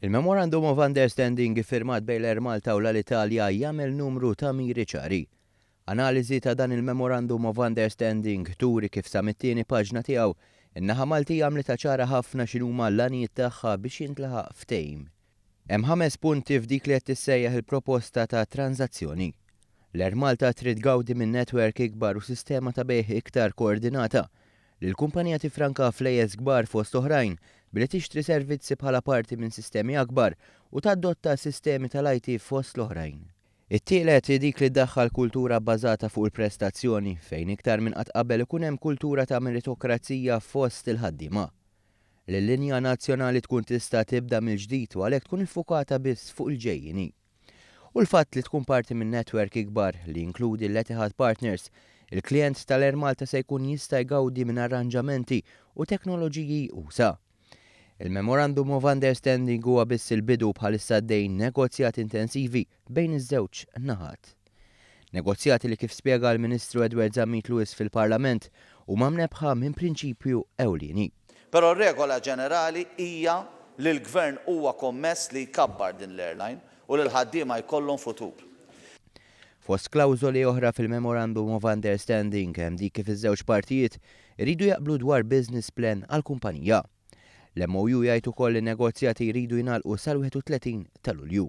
Il-Memorandum of Understanding iffirmat bejn l-Air Malta u l-Alitalia jagħmel numru ta' miri ċari. Analiżi ta' dan il-Memorandum of Understanding turi kif sa mit-tieni paġna tiegħu, in-naħa Maltija għamlitha ċara ħafna x'inhuma l-għanijiet tagħha biex jintlaħaq ftehim. Hemm ħames punti f'dik li qed tissejjaħ il-proposta ta' tranżazzjoni. L-Air Malta trid tgawdi minn netwerk ikbar u sistema ta' bejgħ iktar koordinata. li l-kumpanija tiffranka flejjes kbar fost oħrajn billi tixtri servizzi bħala parti minn sistemi akbar u tadotta sistemi tal-IT fost l-oħrajn. It-tielet hi dik li ddaħħal kultura bbażata fuq il-prestazzjoni, fejn iktar minn qatt qabel ikun hemm kultura ta' meritokrazija fost il-ħaddiema. Li l-linja nazzjonali tkun tista' tibda mill-ġdid u għalhekk tkun iffukata biss fuq il-ġejjieni. U l-fatt li tkun parti minn netwerk ikbar li jinkludi l-Etihad Partners, il-klijent tal-Air Malta se jkun jista' jgawdi minn arranġamenti u teknoloġiji usa'. Il-Memorandum of Understanding huwa biss il-bidu u bħalissa għaddejjin negozjati intensivi bejn iż-żewġ naħat. Negozjati li kif spjega l-Ministru Edward Zammit Lewis fil-Parlament huma mnebbħa minn prinċipju ewlieni. Però r-regola ġenerali hija li l-Gvern huwa kommess li jkabbar din l-airline u li l-ħaddiema jkollhom futur. Fost klawżoli oħra fil-Memorandum of Understanding hemm dik kif iż-żewġ partijiet iridu jaqblu dwar business plan għall-kumpanija. L-MOU jgħid ukoll li n-negozjati jridu jingħalqu sal-31 ta' Lulju.